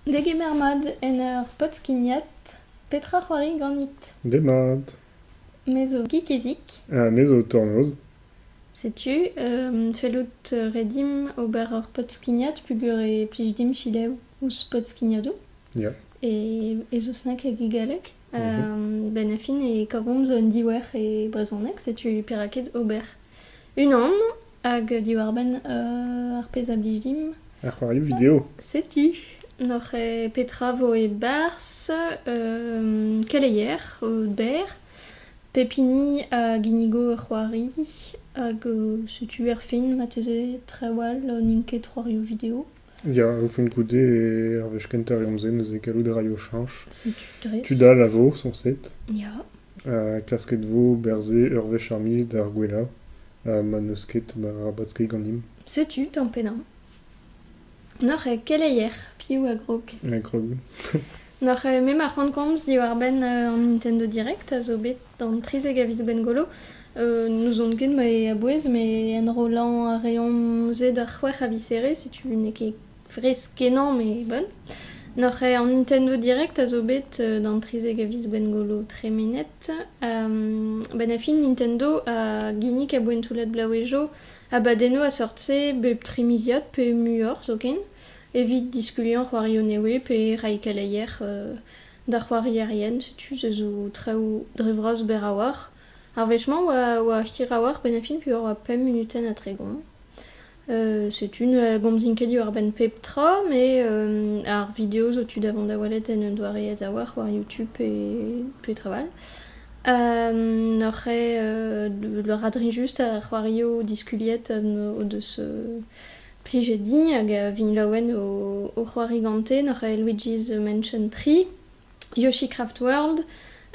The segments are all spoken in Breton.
Degemer mat en ur pod-skignat. Petra c'hoari ganit? Demat. Me zo Gikezik. Ha me zo Tornoz. Setu, fellout re dimp ober ur pod-skignat peogwir e plij dimp fidev ouzh pod-skignadoù. Ya. E eus snack hag e galleg. Ben Affin e koromz un diouer e brezhoneg, setu perak ket ober unan hag diwar-benn ar pezh a blij dimp. Ar c'hoarioù video. Setu. N'oc'h petra vo e-barzh keleier o ber, pep hini a ginnigo ur c'hoari hag setu erfin marteze trawal n'int ket c'hoarioù video. Ya, o fent goude, ar wech kentañ e omzen neuze gallout a raio chañs. Setu dres. Tud all a vo, soñset. Ya. Ha klasket vo berzhe ur wech ar miz d'ar gwellañ ha ma n'eus ket, ba rabat skeiñ ganimp. Setu tamm pennañ. N'oc'h eo keleier piv a grog? E grog. N'oc'h eo me ma c'hoant komz diwar-benn an Nintendo Direct a zo bet D'an trizek a viz Bengolo, euh, n'ouzon ket mae a-bouez, mais enrollañ a reomp se d'ar c'hwec'h a viseré, setu n'eo ket fresk-kenañ, mais bon. N'oc'h eo an Nintendo Direct a zo bet euh, d'an trizek a viz Bengolo tremenet. Um, benn a fin, Nintendo a ginnig a boentoulad blaouejo abadennoù a-seurt-se bep tri miliad pe muioc'h zoken, evit diskuliañ c'hoarioù newe pe reiñ keleier euh, D'ar c'hoarierien, setu se zo traoù dre vras berr a-walc'h. Ar wech-mañ oa, oa hir a-walc'h benn ar fin puis'h oa pemp munutenn ha tregont. setu ne gomzin ket diwar-benn pep tra met ar video zo tu da vont da welet en un doare aes-a-walc'h war YouTube pe petra 'all. N'oc'h eo radrinjust ar c'hoarioù diskuliet o deus Plije din hag a vin laouen o c'hoari gante n'oc'h aze Luigi's Mansion tri, Yoshi Craft World,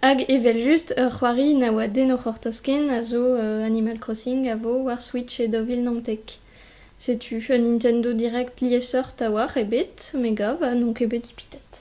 hag evel-just ur c'hoari na oa den o c'hortoz-ken a zo Animal Crossing a vo war Switch e daou vil naontek. Setu un Nintendo Direct liesseurt a-walc'h ebet, me gav, ha n'on ket bet ipitet.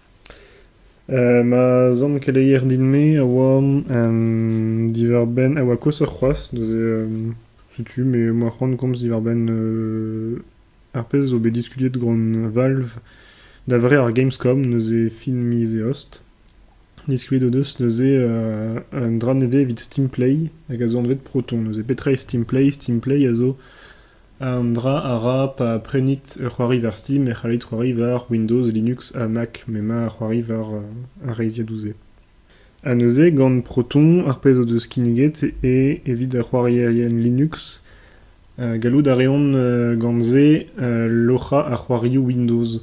Ma zamm keleier din-me a oa diwar-benn... a oa koshoc'h c'hoazh, neuze setu me emañ c'hoant komz diwar-benn ar pezh zo bet diskuliet gant Valve da vare ar Gamescom, neuze fin miz Eost. Diskuliet o deus neuze un dra nevez evit Steam Play hag a zo anvet Proton, neuze petra eo Steam Play? Steam Play a zo Un dra a ra pa prenit ur c'hoari war Steam e c'hallit c'hoari war Windows, Linux ha Mac m'emañ ar c'hoari war ar reizhiadoù-se. Ha neuze gant Proton ar pezh o deus kinniget eo evit ar c'hoarierien Linux. gallout a reont gant se loc'hañ ar c'hoarioù Windows.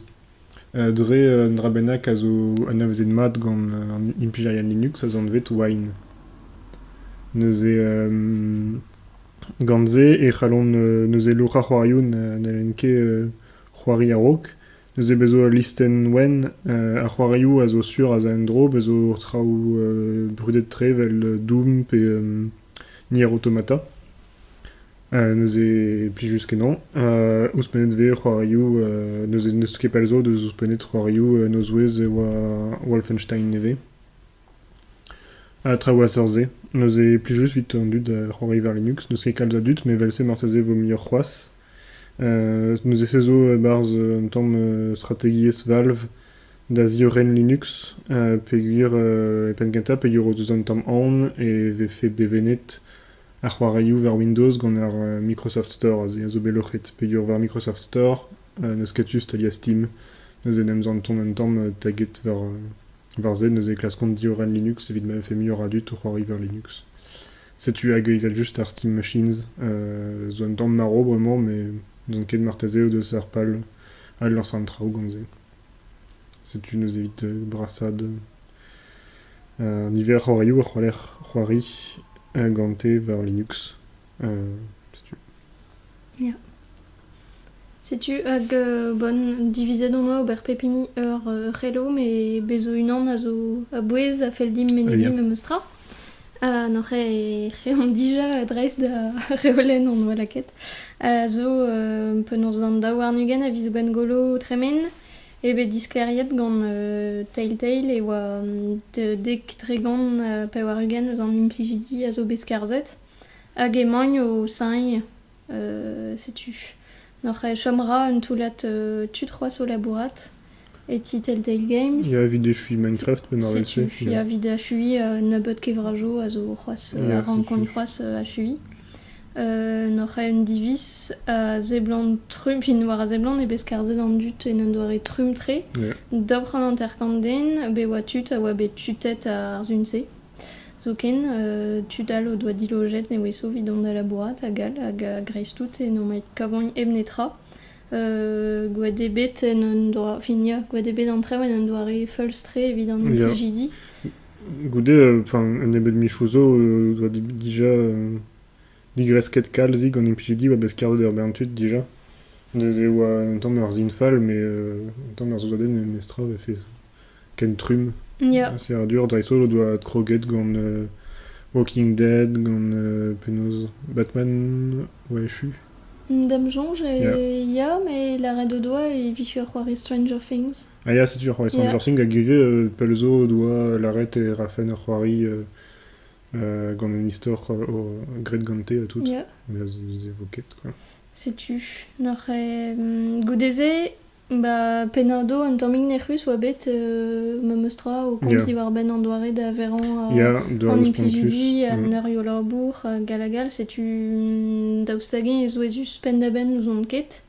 Dre un dra bennak a zo anavezet mat gant an imperial Linux az anvet Wine. Neuze gant-se e c'hallont neuze lourañ c'hoarioù na n'hellent ket c'hoari a-raok. Neuze bez' zo ul listenn wenn a c'hoarioù a zo sur az a en-dro, bez' zo traoù brudet-tre evel Doom pe Nier Automata. neuze plijus kenañ. ouzhpennet vez c'hoarioù neuze n'eus ket pell zo deus ouzhpennet c'hoarioù nozwezh e oa Wolfenstein nevez. Ha traoù a-seurt-se. Neuze plijus evit an dud c'hoari war Linux. N'eus ket kalz a dud met evel-se marteze vo muioc'h c'hoazh. neuze se zo e-barzh un tamm strategiezh Valve da ziorren Linux peogwir e penn-kentañ peogwir o deus un tamm aon e vefe bevennet ar c'hoarioù war Windows gant ar Microsoft Store aze a zo bet loc'het peogwir war Microsoft Store n'eus ket tu staliañ Steam neuze en em zantont un tamm taget war war se neuze e klaskont diorren Linux evit ma vefe muioc'h a dud o c'hoari war Linux setu hag evel-just ar Steam Machines zo un tamm marv bremañ met n'on ket marteze o deus ar pal adlañsañ an traoù gant se setu neuze evit brasaat Niveroc'h a-youl e c'haller c'hoari gante war Linux. setu. Ya. Setu hag bon divizet on oa ober pep hini ur c'helo met bez' zo unan a zo a-bouez a fell dimp menegiñ memes tra. Ha n'oc'h reomp dija dreist da reolenn hon boa lakaet a zo penaos an daouarn-ugent a viz Gwengolo o tremen. eo bet disklêriet gant Telltale e oa dek tregont pevar-ugent eus an implijidi a zo bet skarzhet hag emaint o señv setu n'oc'h chomra un toullad tud c'hoazh o labourat e ti Telltale Games. Ya, evit echuiñ Minecraft penn ar Setu, ya, evit achuiñ un nebeud kevrajoù a zo c'hoazh a rankont c'hoazh achuiñ. N oc'h aet un diviz a seblant trumm, fin war a seblant eo bet skarzhet an dud en un doare trumm-tre d'ober an hanter-kant den bet oa tud a oa bet tutet ar sun-se. Zoken tud all o doa dilojet ne oe sovet dont da labourat hag all hag a-greiz-tout e n'o maent kavagn hep netra. Gwet eo bet en un doare, fin ya, gwet eo bet an traoù en un doare feulz-tre evit an implijidi. Goude un nebeud michoù zo oa dija digresket kalzik an implijidi oa bet kavet er bern tud dija. Neuze oa un tamm ur sin fall met un tamm ur soudarded n'eus netra oa fes ken trumm. Serradur dreist-holl o doa adkroget gant Walking Dead, gant penaos Batman oa echu. D'am soñj ya met lâret o doa e vije ur c'hoari Stranger Things. Ah ya, setu ar c'hoarzh. Genre sin gant Gege, euh, pell zo doa lâret e rafen ur c'hoari euh, euh, gant un istor euh, graet gante ha tout. Ya. Mais c'est ket quoi. Setu. Noc'h eo mm, goude-se, ba Penardo un tammig nec'hus oa bet euh, memes tra o komz Yeah. diwar-benn an doare da verañ a- Ya, de an respond plus. implijidi, Mm. an erioù labour, hag hag all. Setu mm, daoust hag-eñ e souezhus penn-da-benn n'ouzon ket.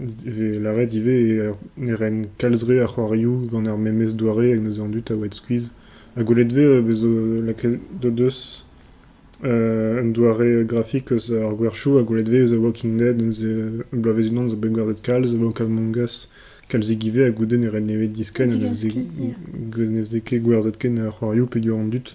E vez lâret ivez ne ren kalz re a c'hoarioù gant ar memes doare hag neuze an dud a oued skuizh. Ha gwelet 'vez bez 'zo lakaet o deus un doare grafik eus ar gwerchoù ha gwelet 'vez The Walking Dead neuze bloavezh-unan 'zo bet gwerzhet kalz, The Book of Among Us kalzig ivez ha goude ne ren nemet diskenn ha ne veze, ne veze ket gwerzhet ken ar c'hoarioù peogwir an dud.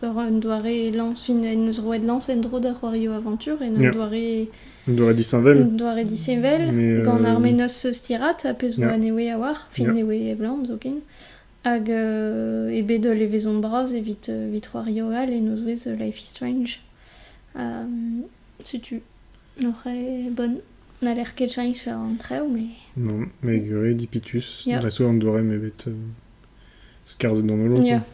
Ur doare lañs, en deus roet lañs en-dro da c'hoarioù aventur en un doare... Un doare disheñvel. Un doare disheñvel, gant ar mennozh stirat ha pezh zo anezhe a-walc'h, fin newe evlamm zoken. Hag e bed ul levezon bras evit evit c'hoarioù all en o zouez Life is Strange. setu n'oc'h bonn n'haller ket cheñch an traoù mais... Non, mais egure, dipitus. Ja. Da so an doare m'eo bet skarzhet d'an holl. Ja.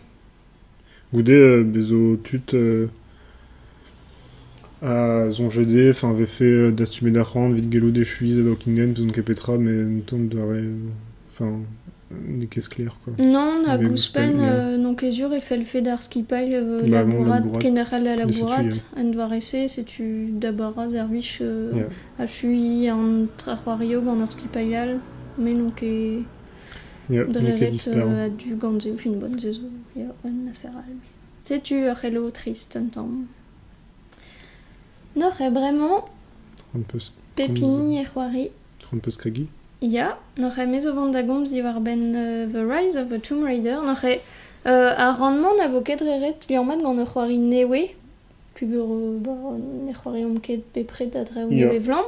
Goude bezo tud a soñje dezhe eñ a vefe dastumet ar c'hoant evit gellout echuiñ da Buckingham, n'ouzon ket petra met un tamm doare... Enfin, n'eo ket sklaer quoi. Non, hag ouzhpenn n'on ket sur e fellfe d'ar skipailh labourat kenderc'hel da labourat en doare-se. Setu da bara servij achuiñ an c'hoarioù gant ur skipailh all met n'on ket... Drevet a-du gant e vunvent se zo ya un afer all. Setu ur c'helo trist un tamm. Noc'h eo bremañ pep hini e c'hoari. Ya, noc'h eo me zo vont da gomz diwar-benn The Rise of a Tomb Raider. Noc'h eo ar rann-mañ na vo ket re ret liammat gant ur c'hoari newe Peogwir bon, ne c'hoariomp ket bepred a-dreñv nevez-vlamm.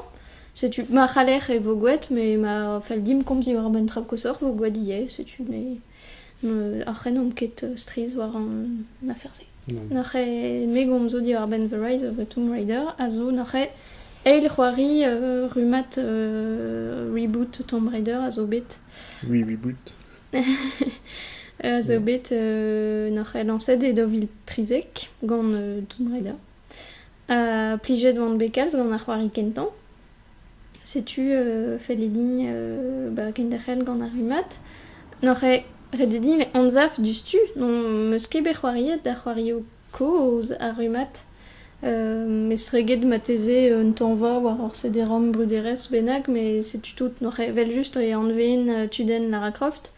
Setu, ma c'haller e vo gwraet, me ma fell dimp komz diwar an traoù koshoc'h 'vo gwraet ivez, setu me n'en c'hrennomp ket strizh war an afer-se. Nac'h eo me gomzo diwar-benn The Rise of the Tomb Raider a zo nac'h eo eil c'hoari rummad reboot Tomb Raider a zo bet. Oui, reboot. zo bet nac'h lañset e daou vil trizek gant Tomb Raider. Ha plijet oan bet kalz gant ar c'hoari kentañ. Setu fellidi ba kenderc'hel gant ar rummad. Nac'h ret eo din anzav diouzhtu n'am eus ket bet c'hoariet da c'hoarioù Kozh ar rummad. Mestreget marteze un tañva war ur sederom bruderezh bennak, met setu tout. Noc'h evel-just e anveen tudenn Lara Croft,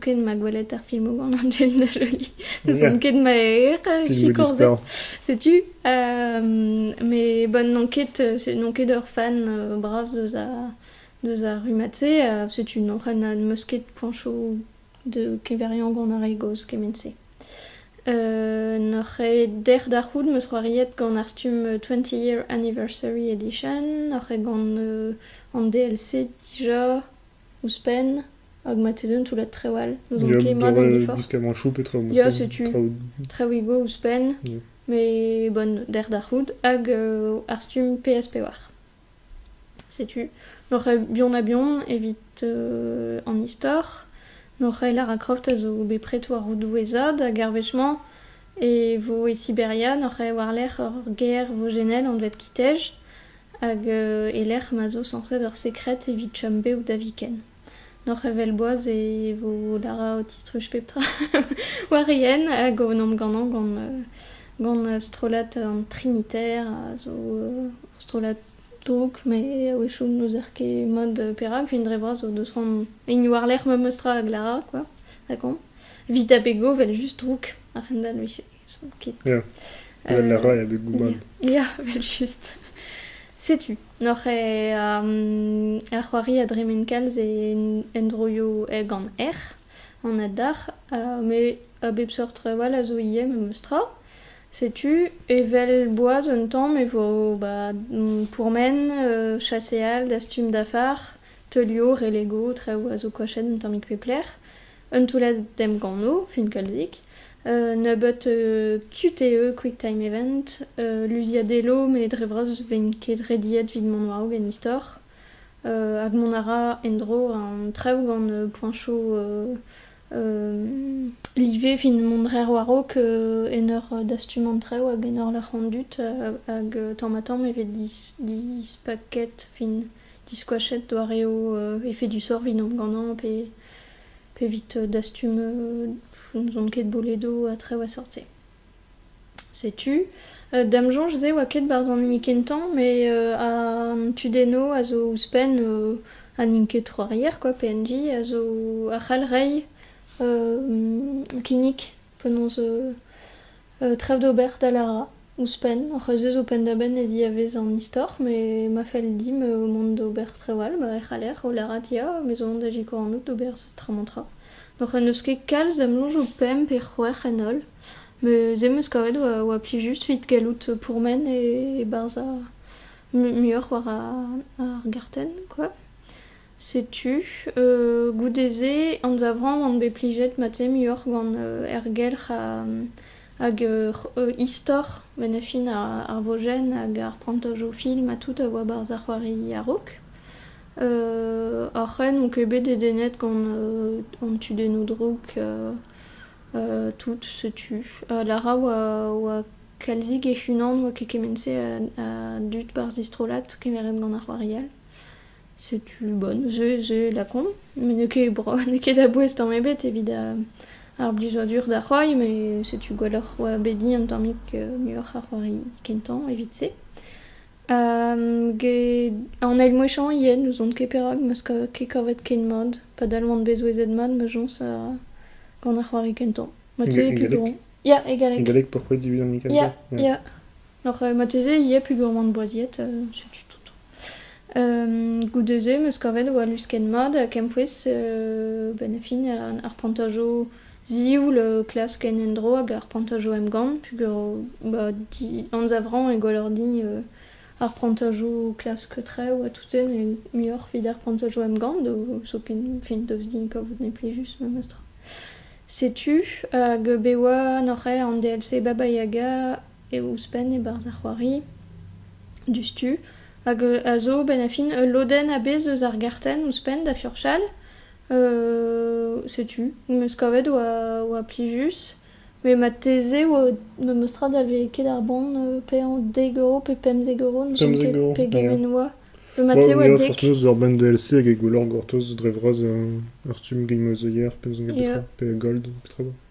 ken ma gwelet ar filmoù gant Angelina Jolie. N'ouzon ket ma eo sikorzet. Setu. Met bon, n'on ket n'on ket ur fan bras deus ar deus ar rummad-se. Setu noc'h n'am eus ket poañsoù de keveriañ gant ar re gozh kement-se. N'oc'h ket dec'h da c'hoût 'm eus c'hoariet gant ar stumm Twenty Year Anniversary Edition. Oc'h ket gant an DLC dija ouzhpenn hag marteze un toullad traoù all. N'ouzon ket mat an diforc'h. Gwiskamant choup e traoù ouzhpenn. Ya, setu traoù go ouzhpenn. Yeah. Mais bon, dec'h da c'hoût. Hag ar stumm PS5. Setu l'oc'h aet bihan-ha-bihan evit an istor. L'oc'h aet Lara Croft a zo bet prest war o doueezad hag ar wech-mañ e vo e Siberia. N'oc'h aet war-lerc'h ur gêr vojennel anvet Kitej hag e-lec'h ma zo sañset ur sekred evit chom bev da viken. Doc'h evel boaz e vo darañ o tistruj pep tra war ien hag o vont ganañ gant gant strollad an Trinitaire a zo ur strollad drouk met a-wechoù n'ouzer ket mod perak. Fin dre vras zo deus c'hoant hini war-lerc'h memes tra hag Lara quoi, rakomp. Vit ha pego 'vel just drouk a-hend-all 'vije. Ils ket. Ja, vel a ra e abeg goubad. Ya, vel just. Setu, n'oc'h e um, ar c'hoari a dremen kalz en endroioù eh gant erc'h, an adarc'h, uh, met a bep seurt trawal a zo ivez memes tra. Setu, evel boaz un tamm e vo ba pourmen, uh, chaseal, dastum dafar, teulio, relego, traoù a zo koachet un tammig pe plec'h. Un toullad emgannoù finkalzik, nebeut tud eo Quicktime Event, luziadello met dre vras vent ket rediet evit mont war-raok en istor. hag mont a ra en-dro an traoù gant poañsoù live evit mont rer war-raok en ur dastum an traoù hag en ur lâr an dud hag tamm-ha-tamm e vez dispaket fin diskoachet doareoù efedusoc'h evit emgannañ pe P'evit dastum n'ouzon ket boledo ha traoù a sort-se. Setu. D'am soñj-se 'oa ket 'barzh an hini kentañ, met an tudenno a zo ouzhpenn ha n'int ket Trois-Rivières quoi, PNJ, a zo a c'hall reiñ kinnig penaos tref d'ober da Lara. Ouzhpenn, hor c'hwezh zo penn-da-benn e diavez an istor, met ma fell dimp mont d'ober trawal ma c'haller, o lâret ya, me zo da sikour anout d'ober set tra-mañ-tra. N'hoc'h eus ket kalz da'm soñj o pemp pe c'hwec'h en holl, met se 'm eus kavet oa plijus evit gallout pourmen e-barzh ar muioc'h war ar gartenn, quoi. Setu, goude-se, anzavramp on bet plijet mat-se muioc'h gant ergelc'h hag istor bennafi ar vojenn hag ar prantajoù film ha tout a oa barzh ar c'hoari a-raok. Oc'hen on ket bet dedennet gant an tudennoù drouk tout, setu. Lara oa kalzik hec'h-unan, oa ket kement-se a dud barzh he strollad kemeret gant ar c'hoari all. Setu, bon, ze, ze lakaomp. Me n'eo ket bro, n'eo ket a-bouez tamm ebet evit ar blijadur da c'hoari, me setu gwelloc'h oa bet din un tammig muioc'h a c'hoari kentañ evit-se. Get an eil mwechañ yen n'ouzon ket perak, ma 'z kav ket kavet ken mat. Padal 'oan bet souezhet mat ma soñs gant ar c'hoari kentañ. Ma teuy ket dourn. Ya, egalek. Egalek, pourquoi tu veux dire Mikasa? Ya, ya. Oc'h marteze ivez pegourmant boaziet, setu tout. goude-se 'm eus kavet vo luskenn mat ha kempouez benn fin ar plantajo zioul o klask en un dro hag ar plantajo emgann peogwir ba anzavrañ e gwallordi ar plantajo klask traoù ha tout-se n'eo muioc'h evit ar plantajo emgann zoken fin daoust din kavout n'eo plijus memestra. Setu hag bet 'oa n'oc'h aet an DLC Baba Yaga eo ouzhpenn e-barzh ar c'hoari diouzhtu hag a zo benn a fin ul lodenn a-bezh eus ar gartenn ouzhpenn da furchal setu meus kavet oa plijus met marteze memes tra da vez ket ar bon paeañ dek euro pe pemzek euro ne soñj ket pegement oa pe marteze oa dek fortuna ur band DLC hag e gwelloc'h gortoz dre vras ar stumm Game of the Year pe gold petra 'ba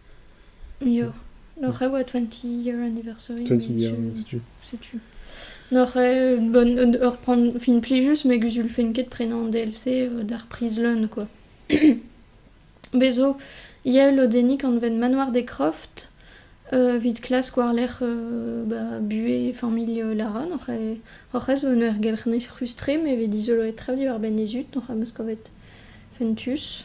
Ya. N'oc'h e oa twenty year anniversary. Twenty year anniversary. Setu. N'oc'h e une bonne... un- ur pran... fin plijus, met guzul fent ket prenañ an DLC euh, d'ar priz leun, quoi. Bez 'zo ivez lodennig anvet Manoir des Crofts, euh, evit klask war-lerc'h euh, ba, buhez familh euh, Lara. N'oc'h e- hoc'h ez un ergelc'h neus-ruz-tre, met vez dizoloet tra diwar-benn he zud, n'oc'h am eus kavet fentus.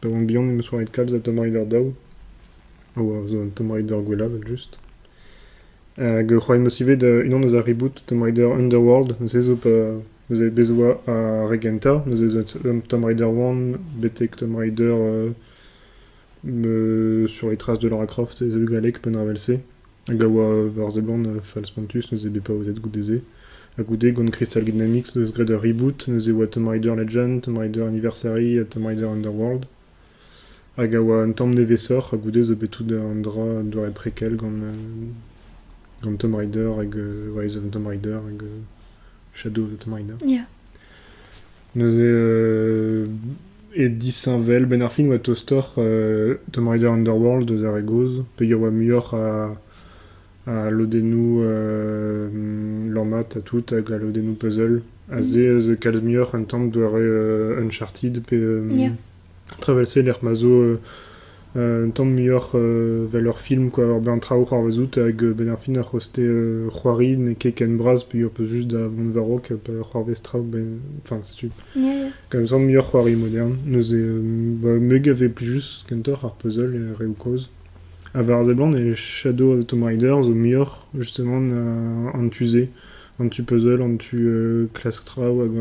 Pa oan bihan em eus roet kalz a Tomb-Raider daou, a oa zo un Tomb-Raider gwellañ evel-just. Hag e c'hoari 'm eus ivez da unan eus ar reboot Tomb Raider Underworld. Neuze zo pa neuze bez' oa ar re gentañ, neuze zo Tomb Raider One betek Tomb Raider sur les traces de Lara Croft, ez eo galleg penn-avel-se. hag a oa war seblant fall-spontus neuze bet paouezet goude-se ha goude gant Crystal Dynamics eus graet ur reboot neuze e oa Tomb Raider Legend, Tomb Raider Anniversary ha Tomb Raider Underworld hag a oa un tamm nevesoc'h ha goude zo bet tout un dra un doare prequel gant euh, gant Tomb Raider hag euh, Rise of Tomb Raider hag euh, Shadow of the Tomb Raider. Yeah. Neuze e disheñvel, 'benn ar fin 'oa tostoc'h Tomb Raider Underworld eus ar re gozh peger 'oa muioc'h a lodennoù lammat ha tout hag a lodennoù puzzle. Ha se 'z eus kalz muioc'h un tamm doare Uncharted pe... Tra evel-se lec'h ma zo un tamm muioc'h evel ur film kwa ur bern traoù o c'hoarvezout hag benn ar fin ar c'hoste c'hoari n'eo ket ken bras pe ho peus just da vont war-raok pa c'hoarvez traoù ben enfin setu Ya, ya. gant un tamm muioc'h c'hoari modern neuze ba meuget e vez plijus kentoc'h ar puzzle e reoù kozh ha war a seblant e Shadow of the Tomb Raider zo muioc'h justement an tu-se an tu puzzle an tu klask traoù hag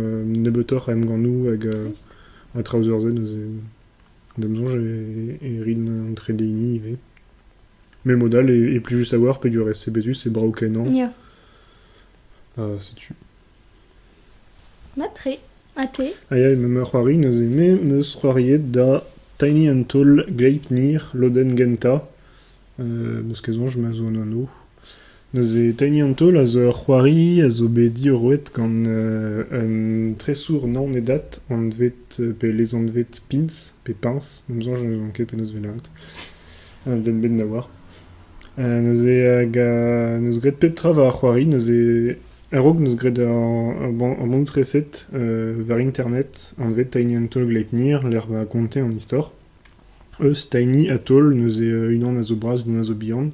nebeutoc'h a emgannoù hag Trist. Ha traoù zo zen neuze, d'am soñj e rin an trede hini ivez. Mais mod all est plus savoir peogwir est CB+, c'est brav-kenañ. Ya. Ah, setu. Matre. Ate. Ah ya, ma ma c'hoari neuze, me 'm eus c'hoariet da Tiny and Toll Gleipnir Loden Genta. n'eus ket soñj ma zo un anv. Neuze Tiny Untold a zo ur c'hoari a zo bet diorroet gant un tresour naonedat anvet pe lezanvet Pins pe Pins, d'am soñj ne ouzoñ ket penaos 'vez lâret, un den bet da oar. Neuze hag n'eus graet pep tra war ar c'hoari, neuze a-raok n'eus graet ur bannoù-treset war internet anvet Tiny Untold Lightyear lec'h ma konte an istor. Eus Tiny Atoll neuze unan a zo bras, unan a zo bihan,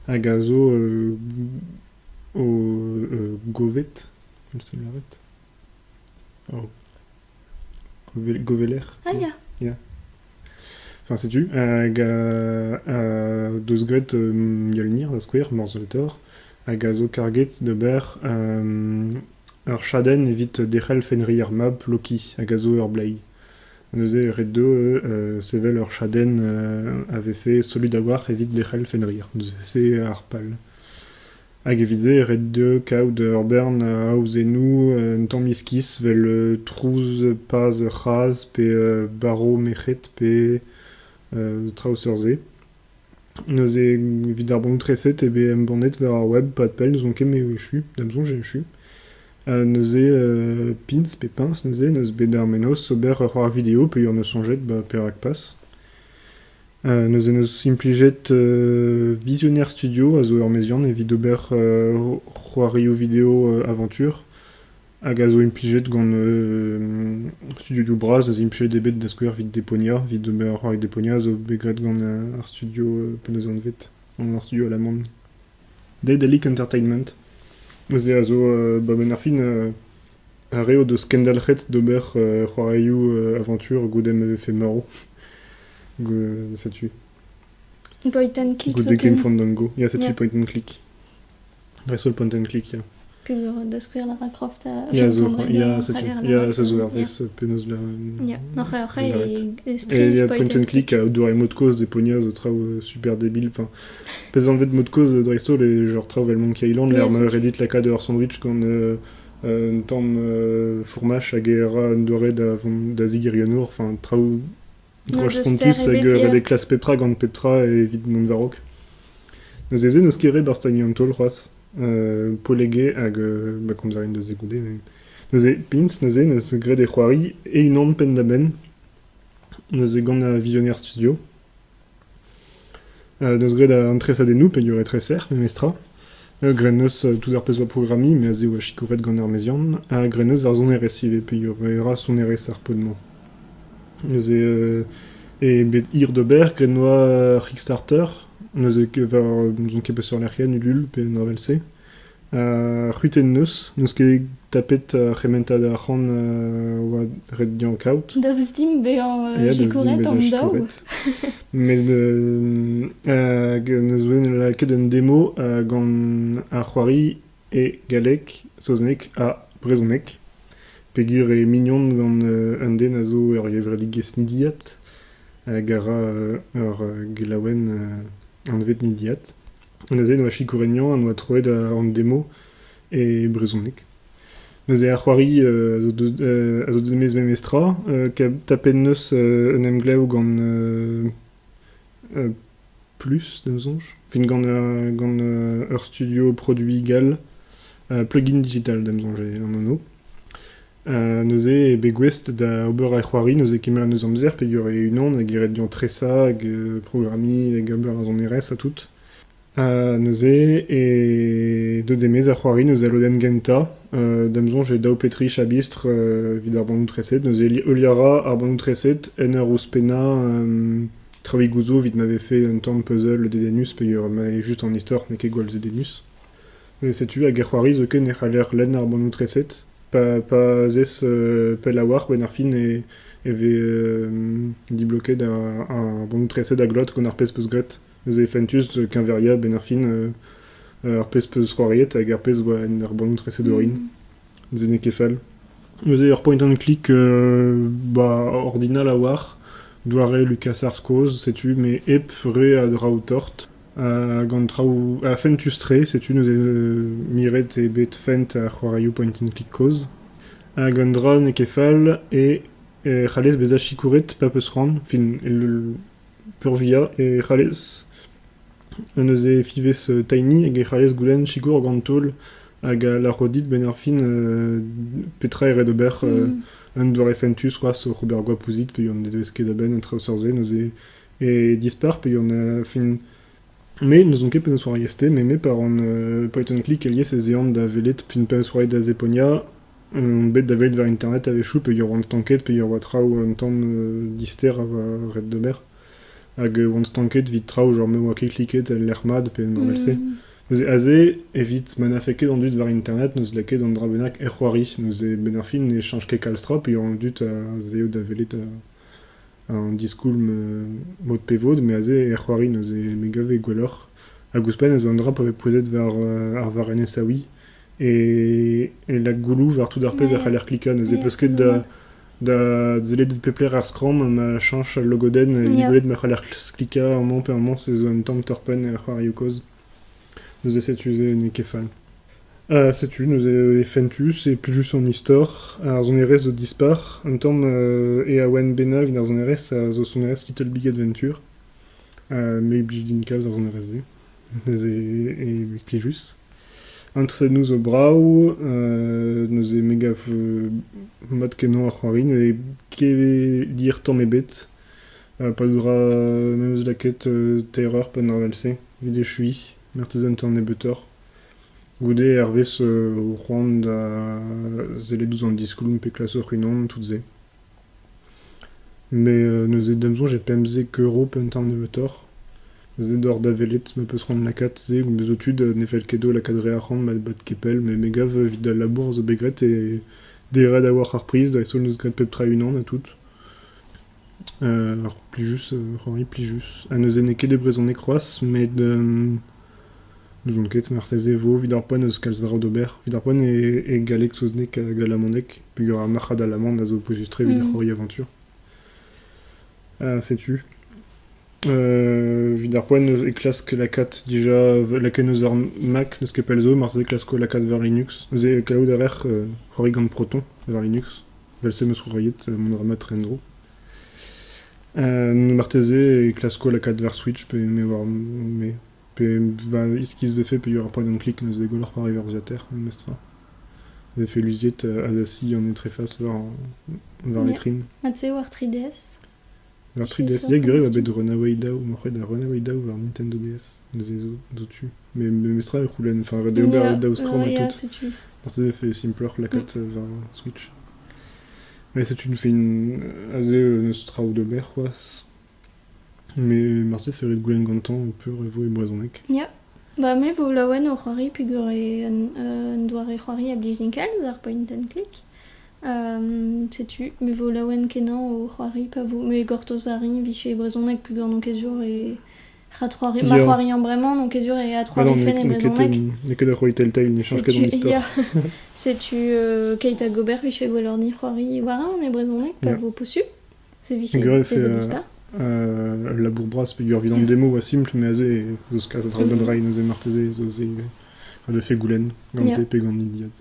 hag a zo o govet, me sell avat, o goveler. Ah ya. Ya. Enfin, setu. Hag uh, deus graet um, Mjolnir, da skouer, Morsel Thor, hag a zo karget d'ober um, ur chadenn evit derc'hel Fenrir mab Loki, hag a zo ur blei. Neuze e rit dezho sevel ur chadenn a vefe solud a-walc'h evit lec'hel Fenrir. Neuze ar pal. Hag evit-se e rit dezho kaout ur bern aozennoù un tamm iskis vel trouz paz ur c'hazh pe barv merc'hed pe traoù seurt-se. Neuze, evit ar bannoù-treset eo bet embannet war ar web pad-pell, n'ouzon ket me eo echu, da'm soñj eo echu. Ha neuze pins pe piñs neuze neus bet ar mennozh ober ur c'hoar video peogwir neus soñjet ba perak pas. Neuze neus implijet Visionnaire Studio a zo ur meziant evit ober c'hoarioù video aventur. hag a zo implijet gant studioioù bras a zo implijet eo bet da skouer evit Deponia. Evit ober ar Deponia a zo bet graet gant ar studio p'en deus anvet, gant ar studio alaman Daedalic Entertainment. Neuze a zo, ba benn ar fin, ar re o deus kendalc'het d'ober c'hoarioù aventur goude ma vefe marv. Setu. Point and click. Goude Game Fandango. Ya, setu Point and click. Dreist-holl pan den klik, ya. Penaos da skouer Lara-Croft a Ya, zo, ya, setu, ya, se zo hervez penaos lâret. Ya, hoc'h hoc'h e stress Et il y a point and click à doare mot de cause des pognats, des traoù super débiles. Enfin, pèse enlevé de mot de cause Dreistol et genre traoù avec Monkey Island, l'air Reddit la de sandwich quand euh, un tam fourmache a guerra un doare da zig Enfin, traoù N'oa spontus hag ret eo klask pep tra gant pep tra evit mont war-raok. Neuze se n'eus ket ret barzh tagñ an taol c'hoazh. Uh, Polege hag uh, ba komzer en deus se goude. Neuze, pins, neuze, neus graet e c'hoari e-unan penn-da-benn. Neuze gant ar Visionnaire Studio. N'eus graet an tresadennoù peogwir e treser memestra. Grennus tout ar pezh 'oa programmiñ mes e oa sikouret gant ar meziant. Ha grennus ar sonerezh ivez peogwir e ra sonerezh ar pod-mañ. Neuze eo bet hir d'ober graet 'noa ur Kickstarter. Neuze ket war n'ouzon ket peseurt lec'hienn Ulule pe un dra 'vel-se. Ar c'hudenn 'neus, n'eus ket tapet ar c'hementad arc'hant 'oa ret dezhañ kaout. Daoust dimp bezañ sikouret an daou. Met hag ne zouen lakaet un demo gant ar c'hoari e galleg, saozneg ha brezhoneg peogwir eo mignon gant un den a zo ur gevredigezh nidiat hag a ra ur gelaouenn anvet nidiat. Neuze e doa sikourenniañ en doa troet an demo e brezhoneg. Neuze ar c'hoari a zo deut a zo deut memes tra. tapet 'neus un emglev gant Plus, da ma soñj. Fin gant gant ur studio produiñ gall Plugin Digital da ma soñj eo an anv. Neuze eo bet gouest da ober e c'hoari, neuze kemeret eus amzer peger eo unan hag e ret dezhañ tresañ hag programmiñ hag ober ar sonerezh ha tout. Neuze eo deuet e-maez ar c'hoari neuze al lodenn gentañ. Da'm soñj eo daou pe tri chabistr evit ar bannoù treset. Neuze heuliañ a ra ar bannoù treset en ur ouzhpennañ traoùigoù'zo evit ma vefe un tamm puzzle dedennus peger ma eo just an istor n'eo ket gwall zedenus. Setu hag e c'hoari zoken e c'haller lenn ar bannoù-treset pa zez pell a-walc'h, benn ar fin e vez dibloket ar bannoù-treset a glot gant ar pezh 'peus graet. Neuze fentus keñveriañ benn ar fin ar pezh 'peus c'hoariet hag ar pezh 'oa en ar bannoù-treset orin. Neuze n'eo ket fall. Neuze ur point and click ordinal a-walc'h, doare Lucas Arts Cause, setu, met hep re a draoù tort. Hag an traoù... ha fentus-tre, setu neuze miret eo bet fent ar c'hoarioù point-and-click kozh. Hag un dra n'eo ket fall e c'hallez bezañ sikouret pa peus c'hoant, fin peurvuiañ e c'hallez neuze fiñvez tiny hag e c'hallez goulenn sikour gant taol hag a lâro dit benn ar fin petra eo ret ober un doare fentus c'hoazh oc'h ober goap ouzhit pe an ne devez ket a-benn en traoù seurt-se neuze et dispar pe on euh, fin me n'ouzon ket penaos oar Yeste, mais me par on euh, point and click elies ez ean da welet pin penaos oa da Zeponia on bet da welet war internet a-wechoù peogwir oan stanket peogwir oa traoù un tamm euh, dister a oa ret d'ober hag euh, oan stanket evit traoù genre me oa ket kliket el lec'h mat pe an normal-se neuze aze evit ma n'afe ket an dud war internet n'eus lakaet an dra bennak er c'hoari neuze benn ar fin ne chanch ket kalz tra peogwir an dud a zeeo da welet an diskoulm mod pe vod, me aze er c'hoari neuze me gave gwelloc'h. Hag ouzhpenn ez eo un dra pa vez pouezet war ar varrenez aoui e lak gouloù war tout ar pezh e c'haller klikañ neuze peus ket da da sellet pep lec'h er skramm ma chañch al logodenn evit gwelet ma c'haller klikañ amañ pe amañ se zo un tamm torr-penn er c'hoarioù kozh. Neuze setu se n'eo ket fall. Ha setu neuze e fentus e plijus an istor. Ar sonerezh zo dispar. Un tamm euh, Eawen bennak d'ar sonerezh a zo sonerezh Little Big Adventure. Uh, me 'blij din kalz ar sonerezh-se. Neuze e plijus. An tresennoù zo brav. Euh, neuze me gav euh, mat-kenañ ar c'hoari. Ne ket dir tamm ebet. Peadra m'em eus lakaet teiroc'h penn ar wel-se evit echuiñ, marteze un tamm nebeutoc'h. Goude hervez ho c'hoant da sellet ouzh an diskouarn pe klas hoc'h-unan tout-se. Met neuze d'am soñj e pemzek euro penn tamm nebeutoc'h. Neuze deoc'h da welet ma peus c'hoant lakaat se met zo tud ne fell ket dezho lakaat re arc'hant ba kepell met me gav evit al labour zo bet graet e derat a-walc'h ar priz dreist-holl n'eus graet pep tra e-unan ha tout. Ur plijus, ur c'hoari plijus. Ha neuze n'eo ket e brezhoneg c'hoazh met n'ouzon ket marteze e vo evit ar poent eus kalz draoù d'ober. Evit ar poent e galleg, saozneg hag alamaneg peogwir ar marc'had alaman a zo pouezus-tre evit ar c'hoari aventur. setu. evit ar poent e klask lakaat dija lakaet eus ur Mac n'eus ket pell zo marteze klasko lakaat war Linux. Neuze kavout a rer c'hoari gant Proton war Linux. Evel-se em eus c'hoariet mont a ra mat en-dro. marteze e klasko lakaat war Switch pe me war me pe va iskis vefe pe il y aura pas d'un clic neuze goloc'h c'hoari war ordinateur mestr vefe luziet Azassi en e tréface war, war vitrine. Ha tu war 3DS Ar triderzhieg grev a bet Runaway Daw morc'hed ar Runaway Daw war Nintendo DS. Neuze zo zo-tu. Met memestra e c'houlenn, enfin ret eo ober e daou skramm ha tout. setu. Marteze e fait simploc'h lakaat euh, war Switch. Mais c'est une fin aze euh, n'eus traoù d'ober c'hoazh. Mais marteze fait ret goulenn gantañ peur e vo e brezhoneg. Ya. Ba me vo laouen o c'hoari peogwir e un, un doare c'hoari a blij din kalz, ar point and click. Setu, me 'vo laouen-kenañ o c'hoari pa vo... Me gortoz a rin 'vije brezhoneg peogwir n'on ket sur e... Ha c'hoari... Ma c'hoariañ bremañ n'on ket sûr e adc'hoari fen e brezhoneg. N'eo ket ur c'hoari Telltale, n'echañj ket an istor. Setu keit hag ober 'vije gwelloc'h-ni c'hoari war-eeun e brezhoneg pa vo posupl. Se 'vije... se 'vo dispar. Ul labour bras peogwir evit an demo 'oa simpl met aze ez eus kalz a draoù da dreiñ neuze marteze ez eus ivez. Le fait goulenn gant te pe gant Diaz.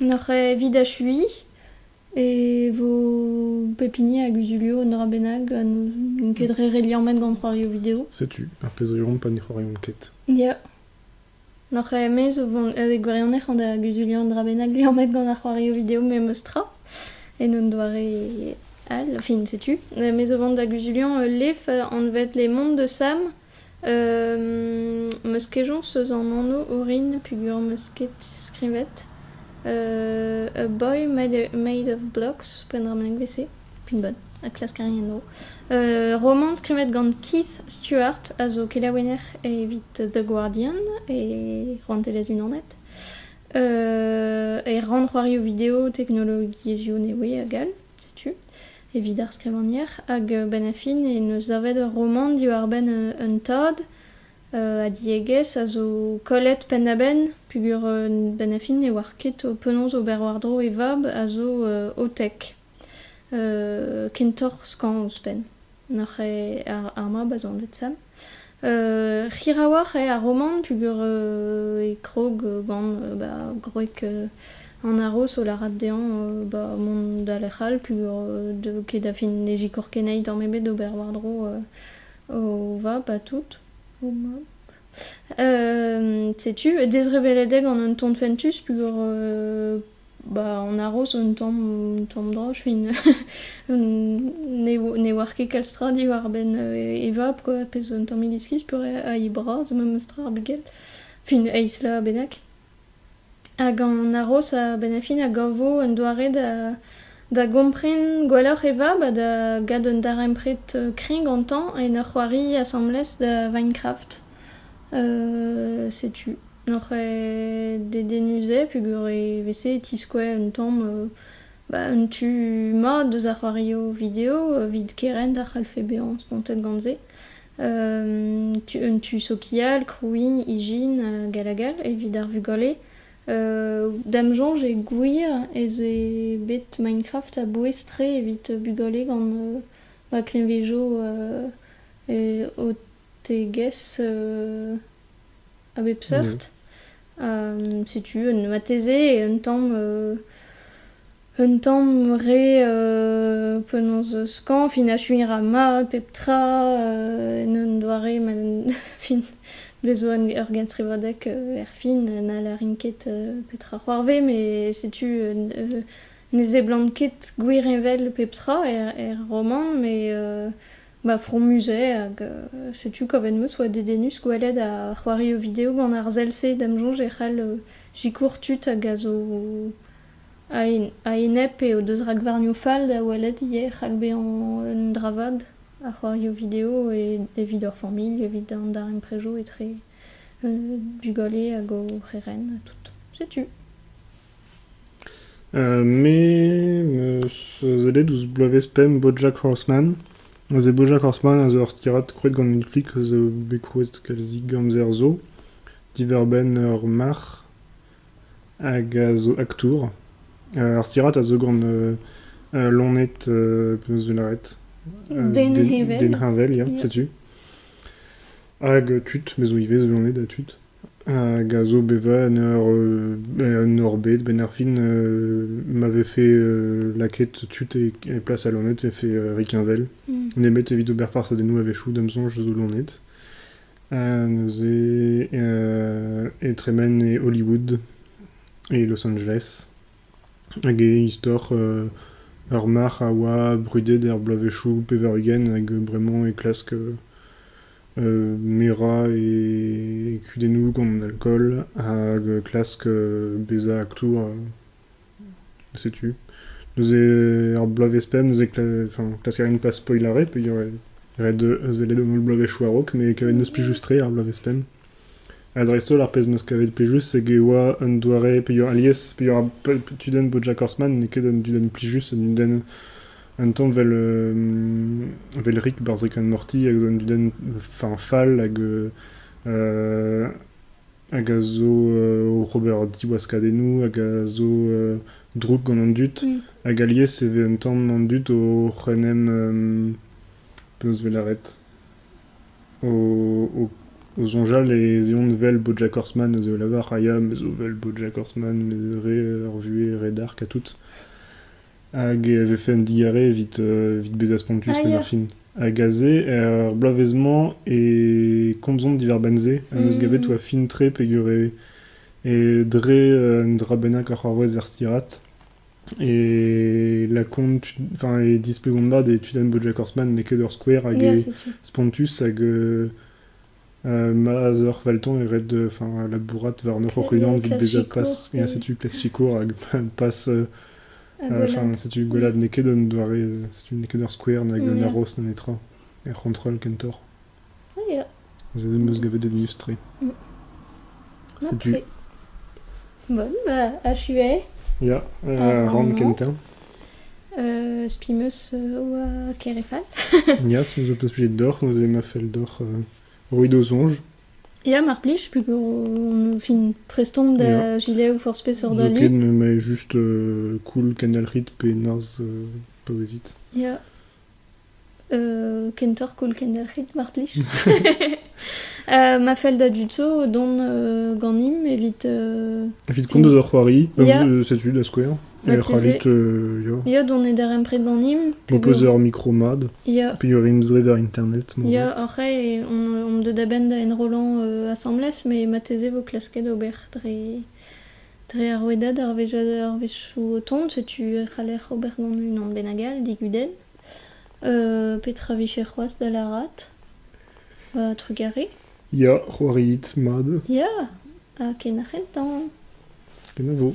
Noc'h evit achuiñ e vo pep hini a guzulio un dra bennak ha n'int ket re re liammet gant c'hoarioù video. Setu, ar pezh 'riomp pa ne c'hoariomp ket. Ya. N'oc'h aes o vont e gwirionez an da guzuliañ un dra bennak liammet gant ar c'hoarioù video memestra en un doare all, fin setu. Me zo vont da guzuliañ ul lef anvet Les Mondes de Sam. Meus kejañs eus an anv orin peogwir 'm eus ket skrivet. A boy made made of blocks, poent dra bennak 'vet-se. pinball ha klaskerien zo. Uh, romant skrivet gant Keith Stewart a zo kelaouenner evit The Guardian e Rouantelezh Unanet. Uh, e rannc'hoarioù video teknologiezhioù nevez hag all, setu, evit ar skrivagner. Hag uh, ben a fin e neus savet ur romant diwar-benn uh, un tad uh, a diegezh a zo kollet penn-da-benn peogwir uh, ben a fin ne oar ket penaos ober war-dro e vab a zo uh, o tek. kentoc'h skañv ouzhpenn. N'oc'h ket ar mab a zo anvet Sam. Hirawoc'h eo ar romant peogwir e krog gant ba gwreg an aroz o lârat dezhañ ba mont da lec'h all peogwir deu ket da fin ne zikour ket anezhi tamm ebet d'ober war-dro o vab ha tout. O mab. Setu, dezrevellet eo gant un ton fentus peogwir Ba an aroz un tamm tamm dra fin ne ne oar ket kalz tra diwar-benn e vab quoi pezh un tammig iskis peurrest ha he bras memes tra ar bugel fin eizh laz bennak. Hag an aroz a-benn ar fin a gavo un doare da da gompren gwelloc'h e vab ha da gad un darempred kreñv gantañ en ur c'hoari asambles da Minecraft setu. Oc'h eo dedennus-se peogwir e veze e tiskouez un tamm un tu mat deus ar c'hoarioù video evit kerent a c'hallfe bezañ spontet gant se. Un tu sokial, krouiñ, ijin gall ha gall evit ar vugale. Da'm soñj eo gwir ez eo bet Minecraft a-bouez-tre evit bugale gant ma kleñvezo o Tegez a bep seurt. setu un vateze e un tamm un tamm re penaos skañv fin achuiñ ra mat pep tra en un doare ma fin bez 'zo ur genstrivadeg erfin na lârin ket petra c'hoarvez met setu ne seblant ket gwir envel pep tra er er romant met Ba fromus-se hag setu kavet 'm eus oa dedennus gwelet ar c'hoarioù video gant ar sell-se da'm soñj e c'hall sikour tud hag a zo a-enep pe o deus rakvarnioù fall da welet ivez e c'hall bezañ un dra vat ar c'hoarioù video evit hor familh evit an darempredoù etre bugale hag o c'herent ha tout. Setu. Me 'meus sellet ouzh bloavezh pemp Bojack Horseman. Neuze Bojack Horseman a zo ur stirad krouet gant Netflix a zo bet krouet kalzik amzer zo, diwar-benn ur marc'h hag a zo aktour. Ar stirad a zo gant loened penaos 'vo lâret? Den heñvel. Den heñvel ya, setu. Hag tud, me zo ivez zo loened ha tud. Hag a zo bevañ en hor bed. A-benn ar fin ma vefe lakaet tud e plas al loened e vefe rikheñvel. Nemet evit ober farsadennoù a-wechoù da'm soñj zo loened. Neuze e tremen e Hollywood, e Los Angeles. Hag e istor ur marc'h a oa brudet er bloavezhioù pevar-ugent hag bremañ e klask Merañ e kudennoù gant alkool hag klask bezañ aktour setu. Neuze ar bloavezh pemp neuze klask a rin pas spoilañ ret, peogwir e ret sellet an holl bloavezhioù a-raok, met n'eus plijus-tre ar bloavezh pemp. Ha dreist-holl ar pezh 'm eus kavet plijus eo e oa un doare peogwir alies peogwir tudenn BoJack Horseman n'eo ket un dudenn plijus, un dudenn un tamm vel euh, vel Rick, Barzhek and Morty hag zo un dudenn enfin fall hag euh, hag a zo euh, o ober diwaskadennoù hag a zo euh, drouk gant an dud Mm. hag alies e vez un tamm an dud oc'h en em euh, penaos 'vel lâret O soñjal ez eont 'vel Bojack Horseman a zo lavar a ya me zo 'vel Bojack Horseman re ur vuhez re dark ha tout hag e vefe un digarez evit evit bezañ spontus Ah, penn ar ya. fin hag aze er bloavezh-mañ e komzont diwar-benn-se am eus gavet oa fin tre peogwir e dre un dra bennak oc'h arouez er stirad E lakaomp, enfin, e displegomp mat e tudenn BoJack Horseman n'eo ket ur skouer hag eo spontus hag euh, ma zeur Valton e red enfin, labourat warnoc'h hoc'h-unan evit bezañ pas et setu klassikour hag pas euh, enfin, setu gwellad n'eo ket un doare, setu n'eo ket ur skouer nag un aros na netra er c'hontrol kentoc'h. Aze em eus gavet un eus-tre. Setu... Bon, ba, achu eo. Ya, ar rann kentañ. Euh, spi meus euh, oa Kerefal. Ya, se meus peus plijet deoc'h, nous ema fell deoc'h euh, roiñ d'o soñj. Ya, mar plij, peogwir on fin prestomp da Ya. gilev forzh peseurt Zo ket, ali. me mae juste euh, cool, kendalc'hit pe narzh euh, paouezit. Ya, Kentoc'h koll kendelc'hit, mar plij. ma fell da dud zo dont ganimp evit... Evit komz eus ur c'hoari, setu da skouer. E c'hoarit, ya. Ya, dont e darempred ganimp. M'ho peus ur mikro mat, pegwir int dre ar internet. Ya, oc'h omp deuet a-benn da enrollan asambles, met marteze vo klasket ober dre... Dre ar rouedad arvezioù o tont setu e c'haller ober gant unan bennak all digudenn. Petra vije c'hoazh da lârat? Trugarez. Ya, c'hoariit mat. Ya, ha ken ar c'hentañ. Kenavo.